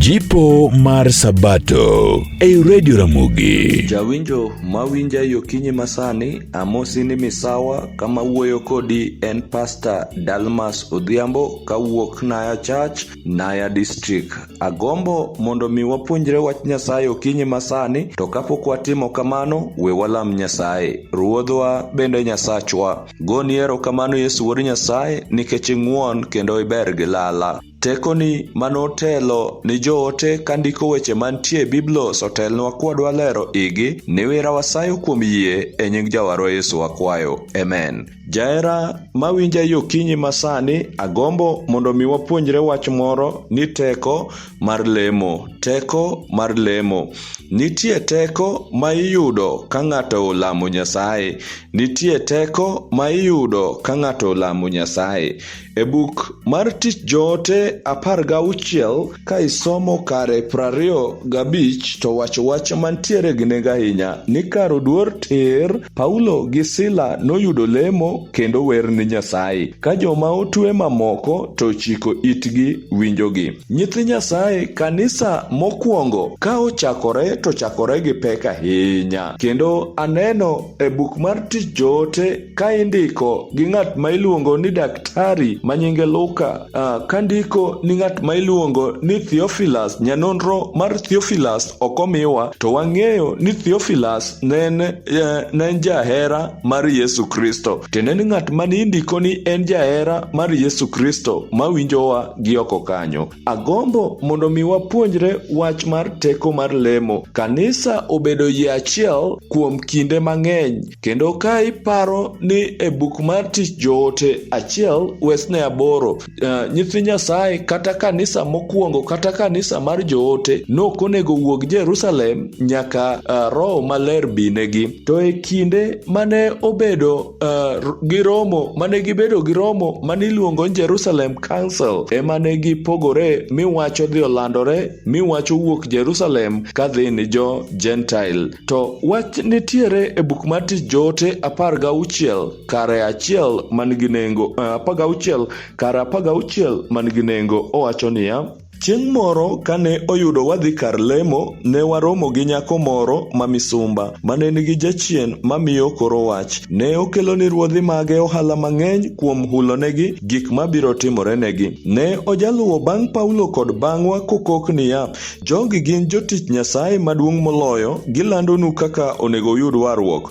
Jipo mar Sabato ei Radio Ramogi. Jawinjo mawinja yo kinyi masani, amosi ni misawa kama wuoyo kodi en Pastor Dalmas Odhiambo kawuok Naya Church, Naya District. Agombo mondo mi wapuonjre wach Nyasaye okinyi masani, to kapok watimo kamano, we walam Nyasaye. Ruodhwa bende Nyasachwa. Goni erokamano Yesu Wuod Nyasaye nikech ing'won kendo iber gi lala. Tekoni ma notelo ni joote ka ndiko weche mantie e Biblos otelnwa kwadwa lero igi, niwira wasayo kuom yie e nying Jawarwa Yesu wakwayo. Amen. Jahera ma winja yo kinyi ma sani, agombo mondo mi wapuonjre wach moro ni teko mar lemo. Teko mar lemo. Nitie teko ma iyudo ka ng'ato olamo Nyasaye. Nitie teko ma iyudo ka ng'ato lamo Nyasaye. E buk mar Tich Joote apar gauchiel ka isomo kare prariyo gabich to wacho wach mantiere gi nengo ahinya ni kar oduor tir, Paulo gi Sila noyudo lemo kendo wer ni Nyasaye, ka joma otue mamoko to chiko itgi winjogi. Nyithi Nyasaye kanisa mokwongo ka ochakore to chakore gi pek ahinya kendo aneno E buk mar Tich Joote ka indiko gi ng'at ma iluongo ni daktari ma nyinge Luka, uh, ka ndiko ni ng'at ma iluongo ni Theophilus, nyanonro mar Theophilus ok omiwa, to wang'eyo ni Theophilus ne en uh, jahera mar Yesu Kristo. Tiende ni ng'at ma ni indiko ni en jahera mar Yesu Kristo ma winjowa gi oko kanyo. Agombo mondo mi wapuonjre wach mar teko mar lemo. Kanisa obedo yie achiel kuom kinde mang'eny, kendo ka iparo ni e buk mar tich joote achiel wesne aboro, uh, nyithi Nyasaye kata kanisa mokwongo kata kanisa mar joote nok onego wuog Jerusalem nyaka uh, Roho Maler binegi. To e kinde mane obedo uh, gi romo mane gibedo gi romo mane iluongo ni Jerusalem Council ema ne gipogore mi wacho dhi olandore mi wacho wuok Jerusalem ka dhi ni jo Gentile. To wach nitiere e buk mar tich joote apar gauchiel kare achiel man gi nengo uh, apar gauchiel kare apar gauchiel man gi nengo owacho niya Chieng' moro kane oyudo wadhi kar lemo, ne waromo gi nyako moro ma misumba, mane nigi jachien mamiyo koro wach. Ne okelo ni ruodhi mage ohala mang'eny kuom hulonegi gik mabiro timorenegi. Ne ojaluwo bang' Paulo kod bang'wa kokok niya, Jogi gin jotich Nyasaye maduong' moloyo, gilandonu kaka onego uyud warruok.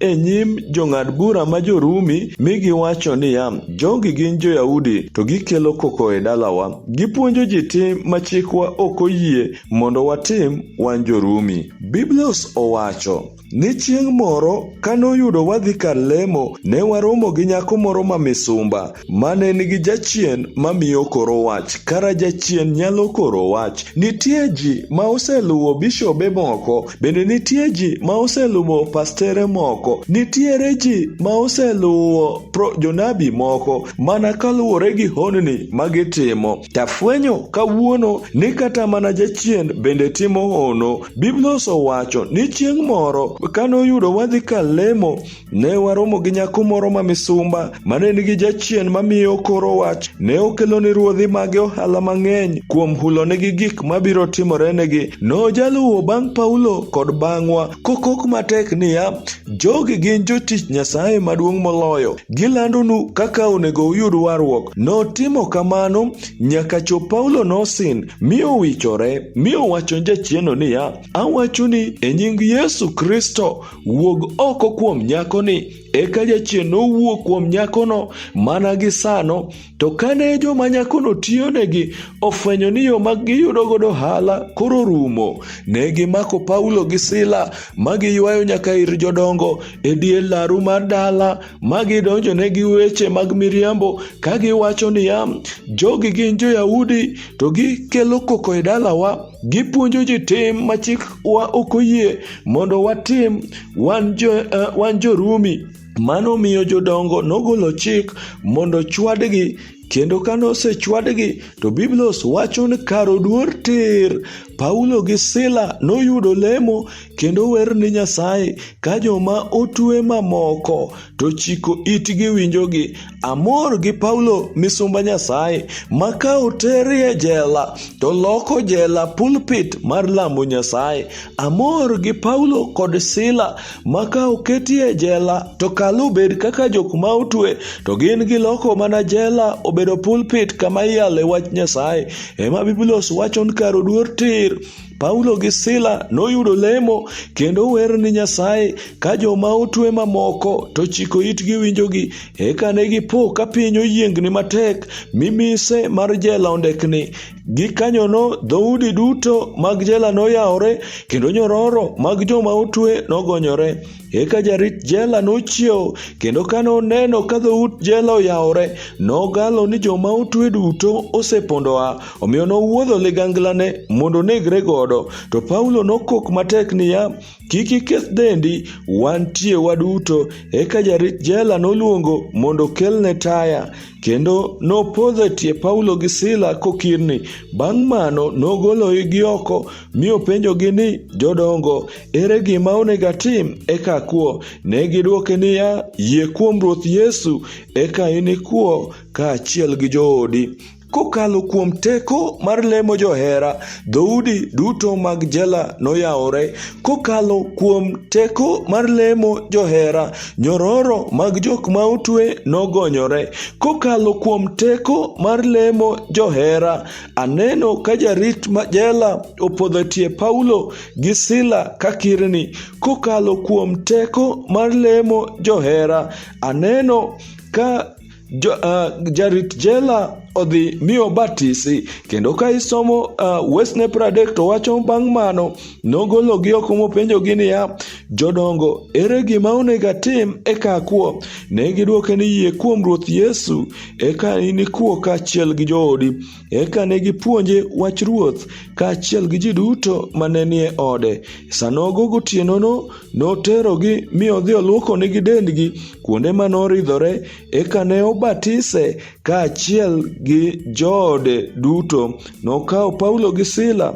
e nyim jong'ad bura ma jo-Rumi mi giwacho niya, Jogi gin jo-Yahudi, to gikelo koko e dalawa. Gipuonjo ji tim ma chikwa ok oyie mondo watim wan jo-Rumi. Biblos owacho ni chieng' moro ka noyudo wadhi kar lemo, ne waromo gi nyako moro ma misumba. Mane nigi jachien mamiyo koro wach. Kara jachien nyalo koro wach. Nitie ji ma oseluwo bishobe moko, bende nitie ji ma oseluwo pastere moko, nitiere ji ma oseluwo jonabi moko mana kaluwore gi honni ma gitimo. Tafwenyo kawuono ni kata mana jachien bende timo hono. Biblia osewacho ni chieng' moro kanoyudo wadhi kalemo Ne waromo gi nyako moro ma misumba ma ne nigi jachien mamiyo koro wach. Ne okelo ni ruodhi mage ohala mang'eny kuom hulonegi gik mabiro timorenegi. Nojaluwo bang' Paulo kod bang'wa, kokok matek niya, Jogi gin jotich Nyasaye maduong' moloyo. Gilandonu kaka onego uyud warruok. Notimo kamano nyaka chop Paulo nosin, mi owichore, mi owacho ni jachieno niya, Awachoni e nying Yesu Kristo Wuog oko kuom nyakoni. Eka jachien nowuok kuom nyakono mana gi sano. To kane joma nyakono tiyonegi ofwenyo ni yo mag giyudo godo hala koro rumo, ne gimako Paulo gi Sila ma giywayo nyaka ir jodongo e dier laru mar dala ma gidonjone gi weche mag miriambo ka giwacho niya, jogi gin jo-Yahudi to gikelo koko e dalawa. Gipuonjo ji tim ma chikwa ok oyie mondo watim wan jo, uh, wan jorumi mano miyo jodongo nogolo chik mondo chwadgi kendo ka nosechwadgi to biblos wacho ni kar oduor tir paulo gi sila noyudo lemo kendo wer ni nyasaye ka joma otue mamoko to chiko itgi winjogi Amor gi Paulo misumba Nyasaye ma ka oterie jela to loko jela pulpit mar lamo Nyasaye. Amor gi Paulo kod Sila ma ka oketie jela to kalo bed kaka jok ma otwe to gin giloko mana jela obedo pulpit kama iyale wach Nyasaye. Ema Biblos wachon kar oduor tir. Paulo gi Sila noyudo lemo kendo wer ni Nyasaye ka joma otwe mamoko to chiko itgi winjogi. Eka ne gipo ka piny oyiengni matek mi mise mar jela ondekni. Gikanyono dhoudi duto mag jela noyawore kendo nyororo mag joma otwe nogonyore. Eka jarit jela nochiewo, kendo kane oneno ka dhout jela oyawore, nogalo ni joma otwe duto osepondo a, omiyo nowuodho liganglane mondo onegre godo. To Paulo nokok matek niya, Kik iketh dendi, wantie waduto. Eka jarit jela noluongo mondo okelne taya, kendo nopodho e tie Paulo gi Sila kokirni. Bang' mano nogolo igi oko, mi openjogi ni, Jodongo, Ere gima onego atim? Eka kwo. Ne gidwoke niya, Yie kuom Ruoth Yesu, eka inikwo kaachiel gi joodi. Kokalo kuom teko mar lemo johera, dhoudi duto mag jela noyawore. Kokalo kuom teko mar lemo johera, nyororo mag jok ma otwe nogonyore. Kokalo kuom teko mar lemo johera, aneno ka jarit jela opodho tie Paulo gi sila ka kirni kokalo kuom teko mar lemo johera aneno ka jo, uh, jarit jela odhi mi obatisi kendo ka isomo uh, wesne pradek to wacho bang' mano nogologi oko mopenjogi niya jodongo ere gima onego atim eka akuo ne gidwoke ni yie kuom ruoth yesu eka inikwo kaachiel gi joodi Eka ne gipuonje wach Ruoth kaachiel gi ji duto ma ne nie ode. Sanogo gotienono noterogi mi odhi olwokonigi dendgi kuonde ma noridhore, eka ne obatise kaachiel gi joode duto. Nokawo Paulo gi Sila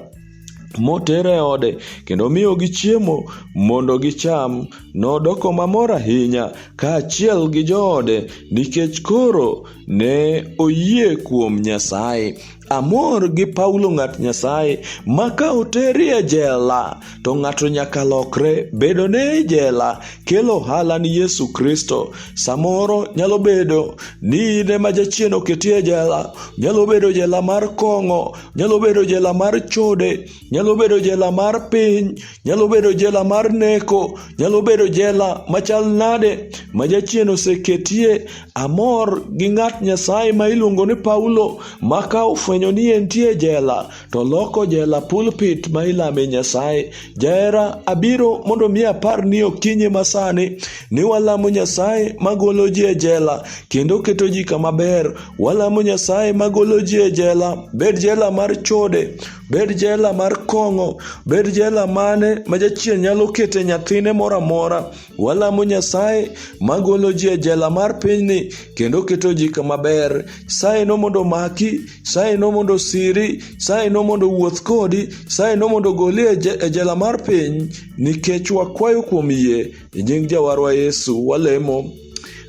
motere e ode kendo miyogi chiemo mondo gicham. Nodoko mamor ahinya kaachiel gi joode nikech koro ne oyie kuom Nyasaye. Amor gi Paulo ng'at Nyasaye ma ka oteri e jela to ng'ato nyaka lokre. Bedo ne e jela kelo ohala ni Yesu Kristo. Samoro nyalo bedo ni in ema jachien oketi e jela, nyalo bedo jela mar kong'o. nyalo bedo jela mar chode nyalo bedo jela mar piny nyalo bedo jela mar neko nyalo bedo jela machal nade ma jachien oseketie amor gi ng'at nyasaye ma iluongo ni paulo ma ka ofwenyo ni entie jela to loko jela pulpit ma ilame nyasaye Jahera, abiro mondo mi apar ni okinyi masani ni walamo Nyasaye magolo ji e jela kendo keto ji kama ber. Walamo Nyasaye magolo ji e jela, bed jela mar chode, bed jela mar kong'o, bed jela mane ma jachien nyalo kete nyathine moro amora. Walamo Nyasaye magolo ji e jela mar pinyni kendo keto ji kama ber. Saye no mondo maki, saye no mondo siri, saye no mondo wuoth kodi, saye no mondo goli e, e jela mar piny nikech wakwayo kuom yie e nying Jawarwa Yesu walemo.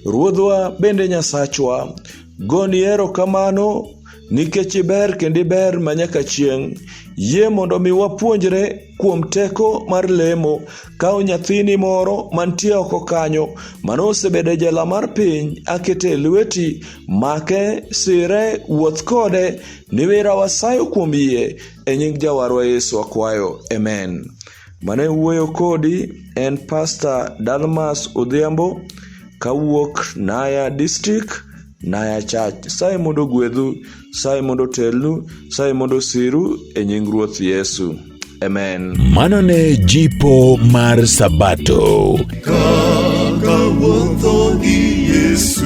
Ruodhwa bende Nyasachwa, goni erokamano nikech iber kendo iber manyaka chieng'. Yie mondo mi wapuonjre kuom teko mar lemo kaw nyathini moro mantie oko kanyo mano osebedo e jela mar piny akete e lweti make sire wuoth kode niwira wasayo kuom yie e nying jawarwa yesu akwayo amen mane wuoyo kodi en pasta dalmas odhiambo kawuok naya district naya church saye mondo gwedhu Saye mondo otelnu, saye mondo osiru e nying Ruoth Yesu. Amen. Mano ne jipo mar Sabato. Kaka wuotho gi Yesu.